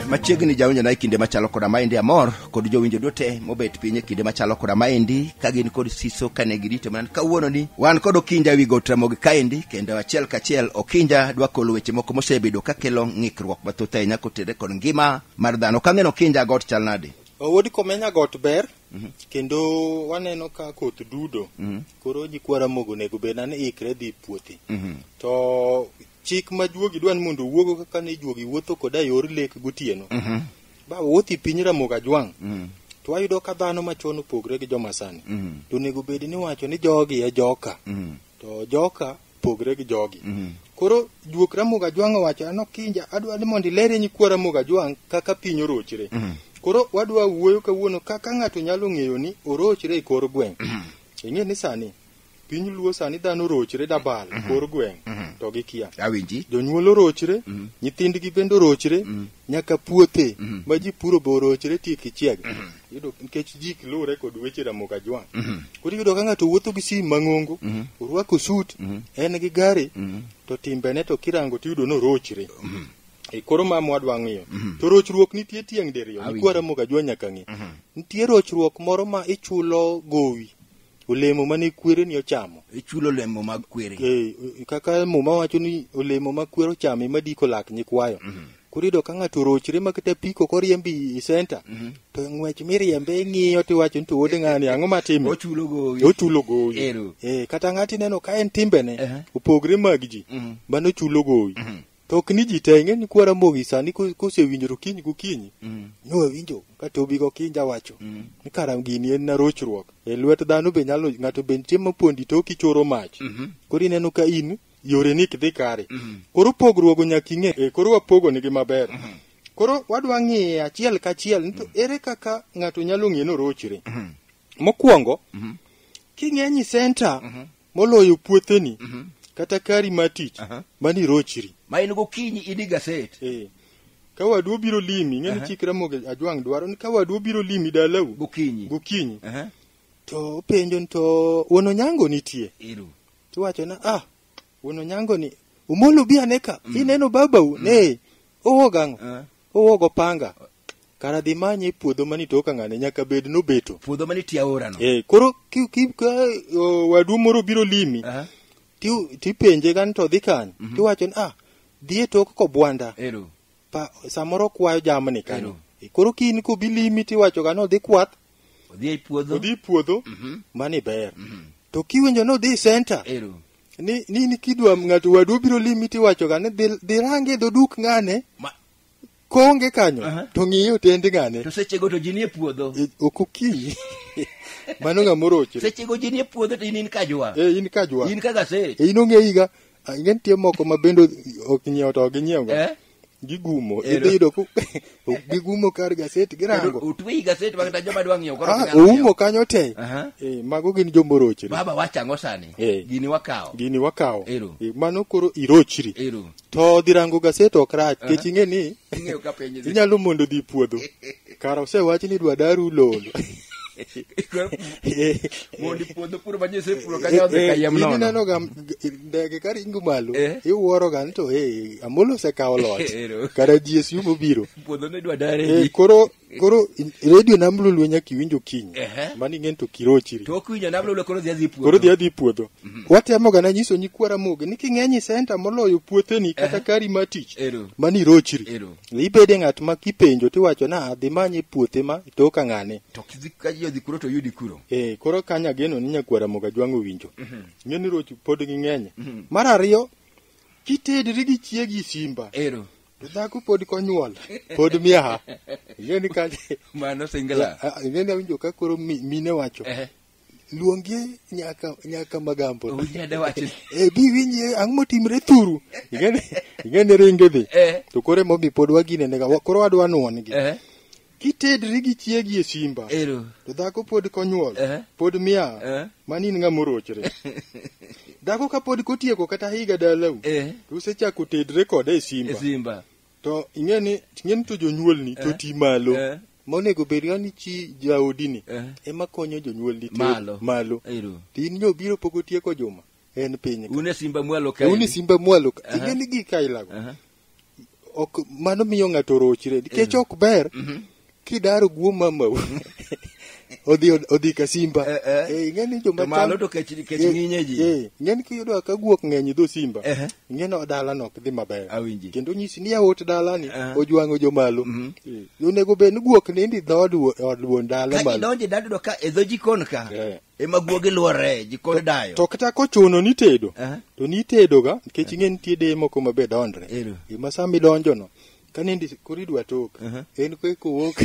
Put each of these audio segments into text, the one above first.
machiegni jawinjo na e kinde machalo koda maendi amor kod jowinjo duto mobet piny e kinde machalo koda maendi ka gin kod siso kane girito mana kawuono ni wan kod okinja ewi got ramogi kaendi kendo achiel kachiel okinja dwa kolo weche moko mosebedo kakelo ng'ik kethruok mathoth ahinya kotere kod ngima mar dhano kang'eno kinja got chal nadi Oh, Wuod Komenya got ber kendo waneno ka koth dudo koro jikwara mogo nego bed nani ikre dhi puothe to chik ma juogi dwa ni mondo owuogo kaka ne juogi wuotho koda yor lek gotieno ba wuothi piny ramogo ajwang' to wayudo ka dhano machon opogre gi joma sani to onego bed ni wacho ni jogi e joka to joka pogre gi jogi mm. koro juok ramogo ajwang' owacho an okinja adwa ni mondo ilere nyikwa ramogo ajwang' kaka piny orochre mm. koro wadwa wuoyo kawuono kaka ng'ato nyalo ng'eyo ni orochre e kor gweng' mm. ing'e ni sani piny luo sani dhano orochre dabal mm -hmm. kor gweng' mm -hmm. to gikia awinji jonyuol orochre mm -hmm. nyithindgi bende orochre mm -hmm. nyaka puothe mm -hmm. ma ji puro be orochre tiek ichieg mm -hmm. Yudo nikech ji ok luwre kod weche Ramogi Ajwang'. Koro iyudo ka ng'ato wuotho gi sim mang'ongo, orwako sut, en gi gari, to timbene to kirango tiyudo ni orochre. E koro ma mwadwa ng'iyo. To rochruok nitie tieng' diriyo. Awinjo. Nikwa Ramogi Ajwang' nyaka ng'e. Nitie rochruok moro ma ichulo gowi. olemo mane kwereni ochamo ichulo olemo mag kwere eh, eh, kaka muma wacho ni olemo ma kwer ochamo ema diko lak nyikwayo mm -hmm. koro iyudo ka ng'ato orochre ma kata piko koriembi i senta mm -hmm. to ng'wech miriembe ing'iyo tiwacho ni to wuod ng'ani ang'o matime ochulo gowi ochulo gowi eh, kata ng'ati neno ka en timbene uh -huh. opogre mag ji mm -hmm. mano chulo gowi mm -hmm. To ok ni ji te, ing'e ni kwa Ramogi sani ko- kosewinjo to kiny gokinyi, Mm. nowinjo ka Tobi Gokinja wacho Mm. ni kara gini en na rochruok. E lwet dhano be nyalo ng'ato be nitie mapondi to kichoro mach. Mhm. Koro ineno ka in yore ni dhi kare. Mhm. Koro pogruogo nyaka ing'e. E, koro wapogo nigi maber. Koro wadwa ng'iye achiel kachiel ni to ere kaka ng'ato nyalo ng'e ni orochre. Mhm. Mokwongo, Mhm. king'e ni center Mhm. moloyo puotheni Mhm. kata kari mar tich Aha. mani rochri ma in gokinyi idi gaset Eh, ka wadu obiro limi ing'eni Aha. chik ramogi ajwang' dwaro ni ka wadu obiro limi dalau gokinyi gokinyi Aha. to openjo ni to wuon onyango nitie iru tiwacho na ah wuon onyango ni umolo bi ane ka ineno babau ne owog ang'o Aha. owog opanga kara dhi manye puodho mani to kang'ane nyaka bed nobeto puodho mani tie aorano eh koro ki, ki, ka o, wadu moro biro limi Aha. ti tipenje gan to dhi kany mm -hmm. tiwacho ni ah dhie tok kobwanda ero pa samoro kwayo jamni kanyo Ero. Eh, koro kiny ko bilimi tiwacho gan odhi kwath odhi e puodho odhi puodho mm -hmm. mani ber mm -hmm. to kiwinjo ni odhi center ero ni ni ni kidwa ng'ato wadu biro limi tiwacho gan ni dhi dhi range dho duk ng'ane Ma- koonge kanyo Aha. to ng'iyo tend ng'ane to sechego to ji nie puodho E, ok okinyi mano ng'a morochre sechego ji nie puodho to in in kajwa e in kajwa in kaka se e in ong'e higa ah, ing'e nitie moko ma bende ok nyiewo to ok ginyiewoga Eh? gigumo Ero. idhi yudo ku- gigumo kar gaset Kendo girango utwe i gaset ma kata joma dwa ng'iewo koro Ah, ok nyal oumo ng'iewo. kanyo te Aha. Eh, mago gin jomorochre baba wachango sani Eh. gini wakawo gini wakawo Ero. Eh, mano koro irochri Ero. To dhi rango gaset ok rach, kech ing'e ni Ing'eyo ka piny idhi. inyalo mondo dhi puodho. Kara osewach ni dwa daru lol. Mondi puodho puro ma nyese puro ka nyodhe ka yem nono. Ineno ga ndege ka ringo malo, Eh. iwuoro ga ni to eh, Amolo osekawo loch. Ero. Kara GSU mobiro. Puodho ne dwa dare Eh, di. koro Koro in- redio nam lolwe nyaka iwinjo kiny. Ehe. Mani ng'en to kirochiri. to okwinjo namlolo koro dhi adhi puodho Koro dhi adhi puodho. Watemo ga na nyiso nyikwa Ramogi ni king'eny i senta moloyo puotheni kata kari ma tich. Ero. Mani irochiri. Ero. Ibede ng'at ma kipenjo tiwacho na adhi manye puothe ma to ka ng'ane. to kidhi ka ji odhi kuro to yudi kuro Eh, koro kanya ageno ni nyakwara moga jwang'o winjo. Ng'e ni roch pod ging'eny. Mar ariyo, kitedri gi chiegi simba. ero To dhako pod konyuol, pod miaha. Ing'e ni ka Mano singla. Ah, ah, ing'e ni awinjo ka koro mi- mine wacho. Eh, Luongi nyaka nyaka magambo. onyade wachni. Eh bi winje ang' motimre thuru. Ing'e ni ing'e ni ringe dhi. Eh, To koro emomi pod wagine nega wa- koro wadwa nuon gi. eh. kitedri gi chiegi e simba ero to dhako pod konyuol eh? pod mia eh? mani in ng'ama orochre dhako kapod kotieko kata higa dalau eh? to usechako tedre kode e simba, e simba. to ing'e ni ing'e ni to jonyuolni eh? to ti malo eh? monego bed ga ni chi jaodini eh? ema konyo jonyuolni malo, malo. to in nyo biro pok otieko juma en piny une simba mwalo kae une simba mwalo kae uh -huh. ing'e ni gik ailago uh -huh. ok mano miyo ng'ato rochre nikech ok ber kidaro guo mamau odhi odhi ka simba Eh, eh. Eh, ing'eni joma To malo cham- to kech kech Eh, ng'inye ji. eh, ing'eni kiyudo ka guok ng'eny dho simba Ehe. ing'eni dalano ok dhi maber Awinji. kendo nyisi ni aot dalani Eh. ojwang'o jomalo Mhm. Eh, onego bed ni guok nindi dhood wuo- od wuon dala Ka malo idonjo idado ka e dho jikon ka. Eh. ema guogi luorre ji kod dayo to kata kochuno ni tedo Aha. to ni tedo ga nikech ing'e nitie deye moko ma be dondre Ero. gima sama idonjo no ka nindi koro idwa tok Aha. en ko kowuok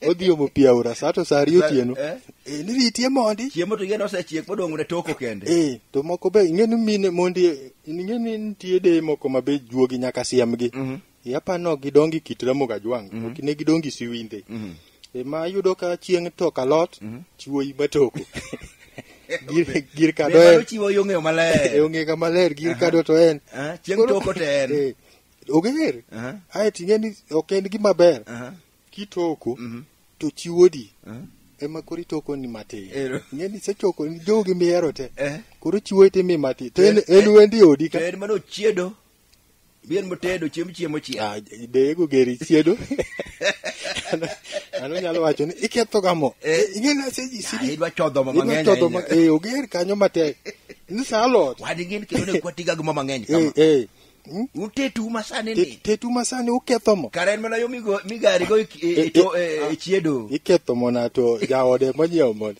odhi omo pi aora sa to sa ariyo Sa- otieno eh. Eh, ni ritie mondi chiemo to yien osechiek modong' ne toko kende Eh, to moko be ing'e ni mine mondi ing'e ni nitie deye moko ma be juogi nyaka siemgi Mhm. e apano gidongi kit ramogi ajwang mm -hmm. ok ne gidongi siwinde mm -hmm. e ma yudo ka chieng to kalot mm -hmm. chiwoyi matoko gir kado en chiwo yo ng'eyo maler yo ng'eyo maler gir kado to en eh, chieng toko to en eh, oger ae ting'e ni ok en gima ber kitoko mhm. to chiwodi ema koro itoko ni matin ng'e ni sechoko jogi mihero te eh? koro chiwo ite mi matin to en wendi odi ka en mano chiedo Bien motedo chiemb chiemo chiel. Ah, dego geri chiedo. Ano nyalo wacho ni iketho gamo. Eh. Ing'e na seji sidi. Ah, idwa chodho ma mang'eny. Idwa chodho ma eh oger kanyo matek. Ni sa lot. Wadi ngin ke ne kwatiga gamo mang'eny kama. Eh eh. Hmm? Utetu masane ni. Tetu masane uketho mo. Karen mana yo migo migari go e, e, eh, to e, eh, ah, chiedo. Iketho mo na to jaode monyiewo mo.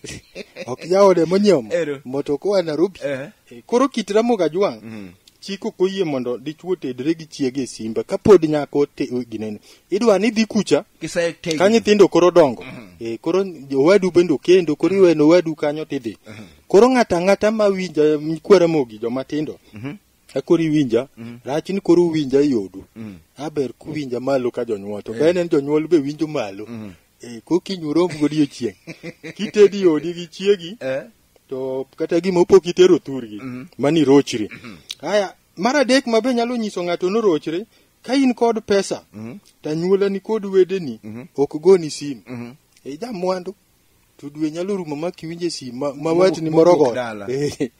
Ok jaode monyiewo mo. Moto kwa Nairobi. Eh. Eh, Koro kit Ramogi Ajwang' Mhm. chik ok oyie mondo dichwo tedre gi chiege e simba kapod nyako te- ginene idwa ni dhi kucha Kise tegi. ka nyithindo koro dongo Eh, koro owadu bende okendo koro iweno owadu kanyo tidhi koro ng'ata ng'ata ma winja nyikwa Ramogi joma tindo akoro iwinja rach ni koro uwinja e yodu aber kuwinja malo ka jonyuol to bene ni jonyuol be winjo malo Eh, kokinyi urom godiechieng' kitedi yodi gi chiegi Eh. to kata gima opo kitero thurgi mm -hmm. mani rochri mm -hmm. haya mar adek mabe nyalo nyiso ng'ato norochre ka in kod pesa mm -hmm. to anyuola ni kod wedeni mm -hmm. ok goni simu mm -hmm. e eh, ja mwandu to dwe nyalo rumo ma kiwinje simu ma, ma watni moro go eh.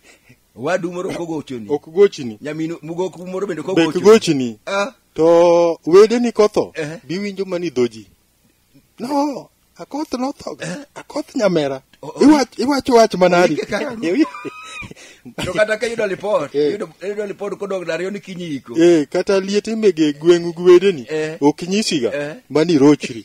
wadu moro ok gochoni ok gochni nyamino mugoku moro bende ok gochni ah. to wedeni kotho uh -huh. biwinjo mani dhoji no akoth notho akoth nyamera O- o- Iwach- iwacho wach manadi Oike kaka ruoth. to kata ka yudo lipot Eh. yudo yudo lipot kodog dariyo ni kinyi iko Eh, kata liet imege gweng'u gi wedeni Eh. ok nyisiga Eh. mani rochri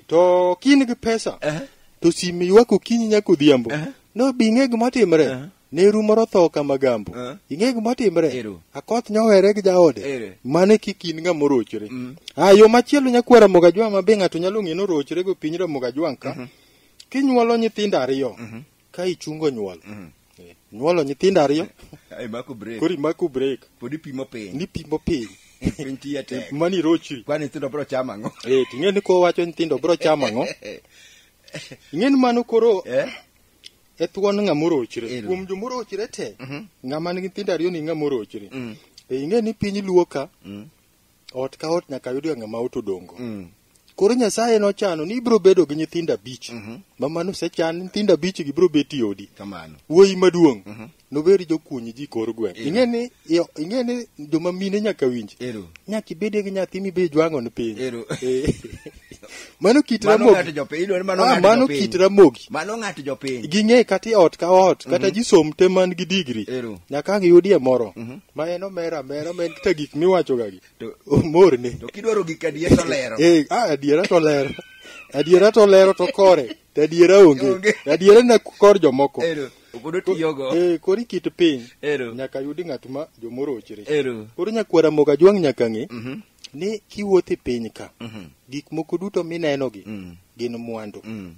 to ka in gi pesa Eh. to sime ywak okinyi nyaka odhiambo Eh. no bing'e gima timre Eh. Neru moro tho ka magambo. Eh. Ing'e gima timre? Ero. Akoth nyohere gi jaode. Ere. Mane kik in ng'ama orochre. Mm. Ah, yo machielo nyakwara Mogajwang' ma be ng'ato nyalo ng'e ni orochre go piny Mogajwang' ka. Mhm. Kinyuolo nyithindo ariyo Mhm. ka ichungo nyuol. Mhm. Eh, Nyuolo nyithindo ariyo Ai mako break. kori mako break Podi pimo piny. ni pimo piny. Piny tiya tek. Mani irochri. Kwani nyithindo bro chama ang'o? Eh, ting'e ni kowacho nyithindo bro chamo ang'o? Ing'e ni mano koro Eh? e thuon ng'a morochre Ero. kuom jo morochre te Mhm. ng'a man gi nyithindo ariyo ni ng'a morochre Mm. e ing'e ni piny luo ka Mm. ot ka ot nyaka yudga ng'ama ot odongo Mm. koro nyasaye nochano ni ibiro bedo gi nyithindo abich Mhm. ma mano osechan nyithindo abich gi biro bet i odi Kamano. wuoyi maduong' Mhm. nobed jokuny ji kor gweng' Ero. ing'e ni iyo- ing'e ni joma mine nyaka winj Ero. nyaka ibedie gi nyathi mibe jwang'o ni piny Ero. Eh. mano kit Mano ramogi ng'ato jopiny, idwaro ni mano Ah, ng'ato mano jopiny. kit ramogi Mano ng'ato jopiny. ging'e kata e ot ka ot kata ji som te man gi digri Ero. nyaka ang' iyudie moro ma en omera amera ma en kata gik miwachogagi To- omorne To kidwaro gik adier to lero. Eh, ah, adiera to lero adiera to lero to kore to adiera onge Onge. adiera na kor jomoko Ero. Pod otiyogo. Eh, koro ikit piny. Ero. Nyaka yudi ng'at ma jomorochre. Ero. Koro nyakwara moga jwang' nyaka ng'e Mhm. ni kiwuotho e piny ka, Mhm. gik moko duto minenogi Mm. gin mwandu. Mm.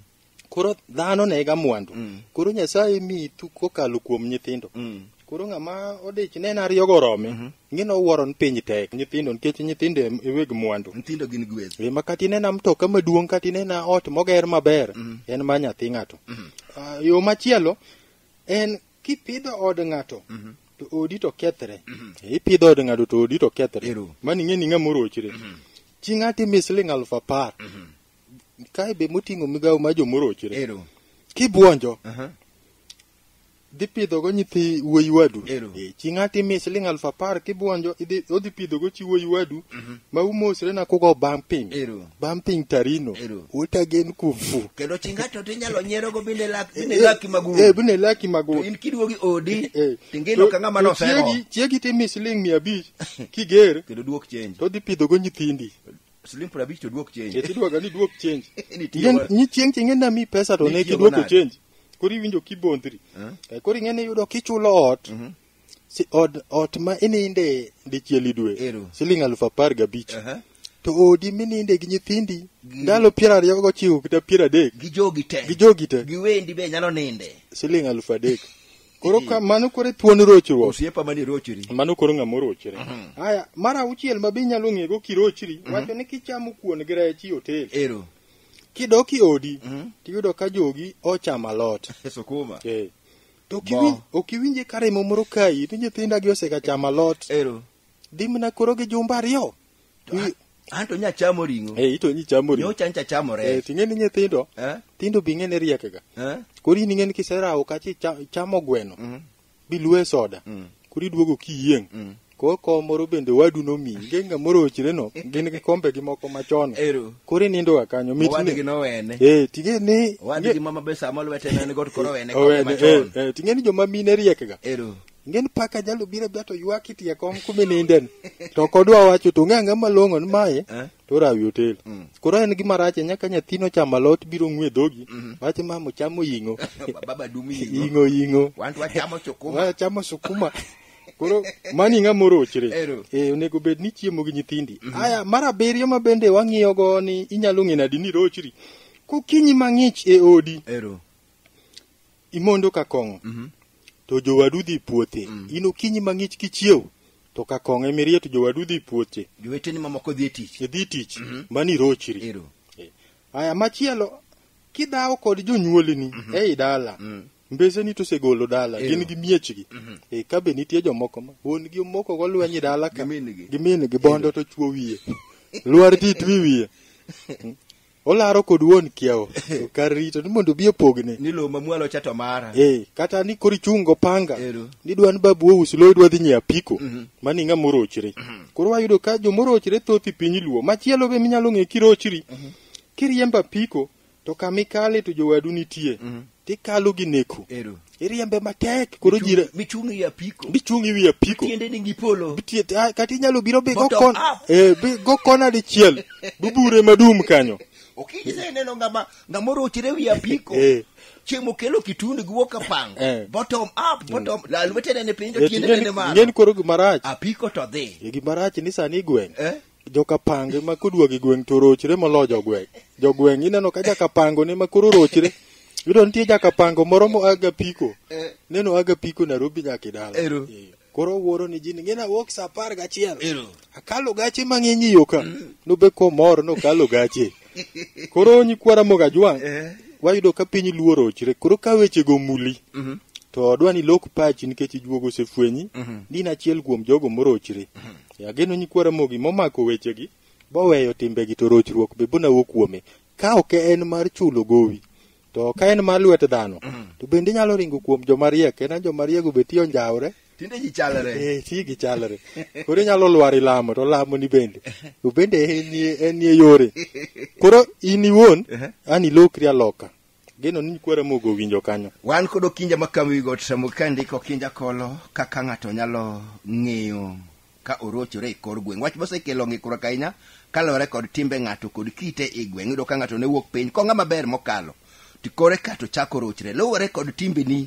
Koro dhano nega mwandu. Mm. Koro Nyasaye miyi thu kokalo kuom nyithindo. Mm. Koro ng'ama odich nena ariyogo orome. Ng'ino wuoro ni piny tek. Nyithindo nikech nyithindo e e weg mwandu. Nyithindo gin gweth. E, ma kata inena mtoka maduong' kata inena ot moger maber en ma nyathi ng'ato. Ah, yo machielo en kipidho od ng'ato to odi to kethre. E, Ipidho od ng'ato to odi to kethre. Ero. Mani ng'e ni ng'ama orochre. Chi ng'ato imiyo siling' aluf apar. Kae be moting'o migawo ma jomorochre. Ero. Kibwonjo Aha. dhi pidhogo nyithi wuoyi wadu Ero. Eh, chi ng'ato imiye siling aluf apar kibwonjo idhi- odhi pidhogo chi wuoyi wadu ma umosre na kugo bang' piny Ero. bang' piny tarino Ero. utagen kumfu kendo chi ng'ato to inyalo nyierogo bende lak- bende laki magul Eh, bende laki magul to in kiduogi odi Eh, tingino to- ka ng'ama to nosero chiegi- chiegi timi siling mia abich kiger kendo duok chenji to dhi pidhogo nyithindi siling piero abich to duok chenji Eti dwaga ni duok chenji. Nitiyo Ing'e- wa- Ni chieng' chieng' ing'e nami pesa to ne Nitiyo kiduoko manade? chenji. Koro iwinjo kibondhri. Eh? Eh, Koro ing'e ni iyudo kichulo ot. Mhm. Si od ot ma ininde dichiel i dwe. Ero. Siling alufu apar gabich. Aha. To odi mininde gi nyithindi Gi- ndalo piero ariyo gochiko kata piero adek. gi jogi te Gi jogi te. gi wendi be nyalo ninde Siling alufu adek. Koro ka mano koro e thuon rochruok. Osiepa mani rochri. Mano koro ng'ama orochre. Mhm. Haya, mar auchiel ma be inyalo ng'ego kirochri, mhm. wacho ni kichamo kuon gi rech i otel. Ero. Kidok i odi, mhm. tiyudo ka jogi ochamo alot. Sukuma. Eh. To ok iwinje ka remo moro kayi, ni nyithindagi osega chamo alot. Ero. Dhi mana koro gi jumba ariyo. To I- a- an to nya chamo ring'o Eh, ito nyi chamo ring'o. nyocha ncha chamo Eh, rech ting'eni nyithindo, Eh? tindo bi ng'eni riekega. Eh? Koro in ing'eni kiserawo kachi cha- chamo gweno, Mm. biluwe soda. Mm. Koro iduogo kiyieng'. Mm. Koro kom moro bende wadu nomiyi. Nge ng'a moro ochireno, gin gi kombegi moko machon. Ero. Koro inindoga kanyo. Mit owadgi ni- nowene Eh, ting'eni- owadgi mama be sama lwete ne ni god koro wene Owene, kombe eh, machon eh, ting'eni joma mine riekega. ero Ingen paka jalo biro bia to ywak itie kom kuma ininden. To ok odwa wacho to ong'e ang'e malong'o ni mae Eh? to rawi otel. Mm. Koro en gima rach ahinya ka nyathino chamo alot biro ng'we dhogi. Mhm. Wacho mama chamo ying'o. Baba dumi ying'o. Ying'o ying'o. Wan to wachamo sukuma. Wa chamo sukuma. Koro mani ng'a morochre. Ero. Eh onego bed ni chiemo gi nyithindi. Aya mar abiriyo ma bende wang'iyo go ni inyalo ng'e nadi ni rochri. Kokinyi mang'ich e odi Ero. imondo ka kong'o Mhm. to jowadu dhi puothe Mm. in okinyi mang'ich kichiew to ka kong'o emirie to jowadu dhi puothe joweteni mamoko dhi e tich idhi tich Mhm. mani rochri ero aya machielo kidhawo kod jonyuolini Mhm. ei dala Mm. mbeseni to osegolo dala Eyo. gin gi miechgi Mhm. e ka be nitie jomoko ma wuon gi moko go lweny e dala ka Gimin-gi. gimin gi bondo to chuo wiye lwar dit wi wiye olaro kod wuon kiawo to kar rito ni mondo obi opogne ni lowo mamwalo cha to mara eh kata ni koro ichung' go panga Ero. ni dwa ni babu ous lowo idwa dhi nyiewo apiko mani ng'a morochre koro wayudo ka jomorochre thoth i piny luo machielo be minyalo ng'e kirochri kiriembo apiko to kama ikale to jowadu nitie Tikalo gi neko. Ero. Iriembe matek. Koro ji re- Michung' e apiko. bichung' i wi apiko. Tiende ni gipolo. Bitie- ah, Kata inyalo biro bi go Bottom kon- up. eh, bi go kona dichiel. Bubure madum kanyo. Okinyi sa ineno ng'ama ng'ama orochre wi apiko. Eh. Chieng' mokelo kitundu gi wuok apang. Eh. Bottom up, bottom. La lwete nene piny to Eh, tiende nene malo. Ng'en koro gimarach. Apiko to dhi. Eh, Gimarach ni sani igweng'. Eh? jokapange ma kodwa gi gweng' to rochre molo jogweng' jogweng' ineno ka jakapango ne ma koro rochre yudo nitie jakapango moro mo aga piko Eh. neno aga piko Nairobi nyaka idala Ero. Eh, koro wuoro ni jini ngina wuok saa apar gachiel Ero. akalo gache mang'eny iyo ka nobe komor nokalo gache koro nyikwara mogajwang' Eh. wayudo ka piny luo rochre koro ka wechego muli Mhm. to odwa ni lok pachi nikech ijuogo osefwenyi Mhm. ni in achiel kuom jogo morochre E ageno nyikwa Ramogi momako wechegi boweyo timbegi to rochruok be bonawo kuome. Ka ok en mar chulo gowi to ka en mar lwet dhano to bende inyalo ringo kuom joma riek en joma riego be tiyo njawre Tinde ji chalre. Eh, ti gi chalre koro inyalo lwar ilamo to lamo ni bende to bende en nie- en nie yore koro in iwuon an ilokri aloka Geno ni kwara mogo winjo kanyo. Wan kod okinja ma kawo wi got samo ka ndiko okinja kolo kaka ng'ato nyalo ng'eyo ka orochore e kor gweng'. Wach mosekelo ng'ikruok ahinya kaluwore kod timbe ng'ato kod kite e gweng'. Iyudo ka ng'ato ne wuok piny kong'a maber mokalo to kore ka to chako rochre. Luwore kod timbeni